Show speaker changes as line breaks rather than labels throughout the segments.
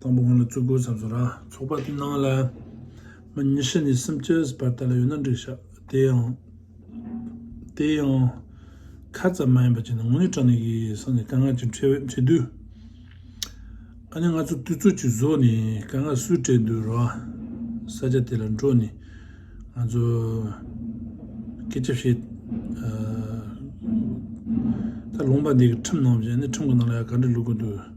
དང་པོ་ང་ལ་བཙུགས་དགོས་བསམ་སོང་ར། ཚོགས་པ་ནང་ལ་མི་ཉི་ཤུ་ནས་སུམ་བཅུ་བར་དག་ལ་ཡོད་ན་འགྲིག་ཤག་དེ་ཡང། དེ་ཡང། ཁ་ཙམ་མ་ཡིན་པ་ཅིག་ནི་ངོ་ནས་དྲང་ནས་ཡིན་བསམ་ནས་དཀའ་ངལ་ཅིག་འཕྲད་འོས་འཕྲད་དུས། ཨ་ནི་ང་ཚོ་དུས་ཚོད་ཅིག་བཟོས་ནས་དཀའ་ངལ་སུས་སྤྲད་འདོད་ར། ས་ཆ་དེ་ལ་འགྲོ་ནས་ང་ཚོ། སྐད་ཆ་བཤད། ད་ལུང་པ་འདི་གི་ཁྲིམས་ནང་བཞིན་ཨ་ནི་ཁྲིམས་གི་ནང་ལ་ཡང་ག་འདྲ་ལུགས་དགོས་འདོད།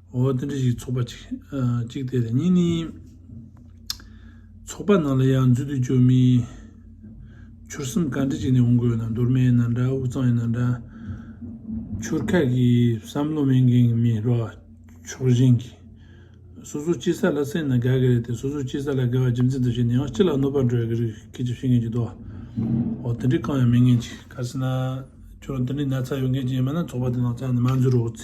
འོ་དེ་འདྲ་ཞིག་ཚོགས་པ་གཅིག་གཅིག་དེ་རེད་གཉིས་ནི། ཚོགས་པ་ནང་ལ་ཡང་འཛུལ་དུ་བཅུག་མི། ཆུར་སེམས་བཀའ་འདྲི་བྱེད་ནས་འོང་དགོས་ན་མདོར་མེད་ན་འདྲ་དབུས་གཙང་ཡིན་ན་འདྲ། ཆུར་ཁ་གི་བསམ་བློ་མེད་མཁན་གྱི་མི་རོ་ཕྱོགས་གཞན་གྱི། སོ་སོ་སྐྱིད་ས་ལ་སེམས་ན་དགའ་གི་རེད་དེ་སོ་སོ་སྐྱིད་ས་ལ་དགའ་བ་རྒྱུ་མཚན་དུ་བྱས་ནས་ཡང་སྤྱི་ལ་གནོད་པ་འགྲོ་ཡ་གི་རིགས་སྐད་ཅིག་བཤད་མཁན་གྱི་འདུག་འོ་དེ་འདྲའི་རྐང་ཡང་མེད་མཁན་གྱི། ག་ས་ན་ཁྱོད་རང་དེ་འདྲའི་ན་ཚ་ཡོད་མཁན་གྱི་ཡིན་པ་ན་ཚོགས་པ་དེ་ནང་ཚང་ནས་མ་འཛུལ་རོགས།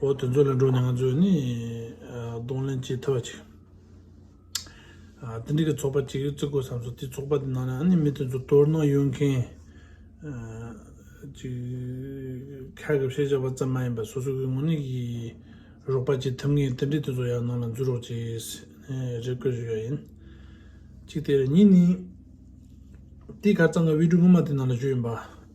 འོ་དེ་ཚོ་ལས་འགྲོ་ནས་ང་ཚོས་ནི་གདོང་ལེན་བྱེད་ཐུབ་པ་ཅིག་དེ་འདྲ་གི་ཚོགས་པ་ཅིག་བརྩི་དགོས་བསམ་སོང་དེ་ཚོགས་པ་དེ་ནང་ནས་མི་དེ་ཚོ་དོ་སྣང་ཡོད་མཁན་ཅིག་ཁ་གི་བཤད་བྱ་བ་ཙམ་མ་ཡིན་པར་སོ་སོ་གི་ངོ་ནས་ཀྱི་རོགས་པ་ཅིག་ཐུབ་ངེས་དེ་འདྲ་དེ་ཚོ་ཡང་ནང་ལ་འཛུལ་རོགས་ཅེས་རེ་བསྐུལ་ཞུ་ཡ་ཡིན་གཅིག་དེ་རེད་གཉིས་ནི་དེའི་ཁར་ཙང་གི་དབུས་གྲོས་སྔོན་མ་དེ་ནང་ལ་བཞུགས་ཡིན་པ་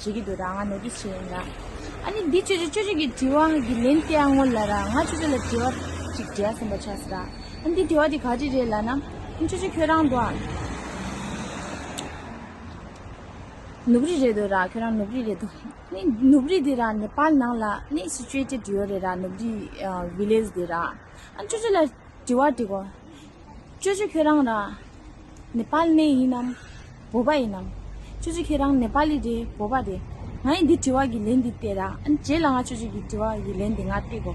བྱེད་ཀྱི་འདུག་ད་ང་ནོ་ཏིས་བྱས་ཡིན་ད། ཨ་ནི་འདི་ཆོས་ཆོས་ཆོས་ཆོས་ཀྱི་དྲི་བ་གི་ལན་སྟེ་ཨ་ངོ་ལ་ར་ང་ཆོས་ཆོས་ལ་དྲི་བ་ཅིག་འདྲེ་ཟིན་པ་ཆགས་སོ་ད། ཨ་ནི་འདི་དྲི་བ་དེ་ག་དྲི་རེད་ལ་ན། ཨ་ནི་ཆོས་ཆོས་ཁྱོད་རང་དོ། ནུབ་རི་རེད་དོ་ར་ཁྱོད་རང་ནུབ་རི་རེད་དོ། ཨ་ནི་ནུབ་རི་དེ་ར་ནེ་པཱལ་ནང་ལ་ནི་སི་ཅོད་ཀྱི་འབྲི་ཡོད་རེད་ར་ནུབ་རི། Village། དེ་ར། ཨ་ནི་ཆོས་ཆོས་ལ་དྲི་བ་དྲི་གོ། ཅོ་ཅོ་ཁྱོད་རང་རང་ནེ་པཱལ་ནས་ཡིན་ནམ་བོད་པ་ཡིན་ནམ། ཅོ་ཅོ་ཁྱེད་རང་ནེ་པཱ་ལི་རེད་བོད་པ་རེད། ང་ཡི་འདི་དྲི་བ་གི་ལན་འདི་བལྟས་ར་ཨ་ནི་རྗེས་ལ་ང་ཅོ་ཅོ་གི་དྲི་བ་གི་ལན་འདི་ང་བལྟས་གོ།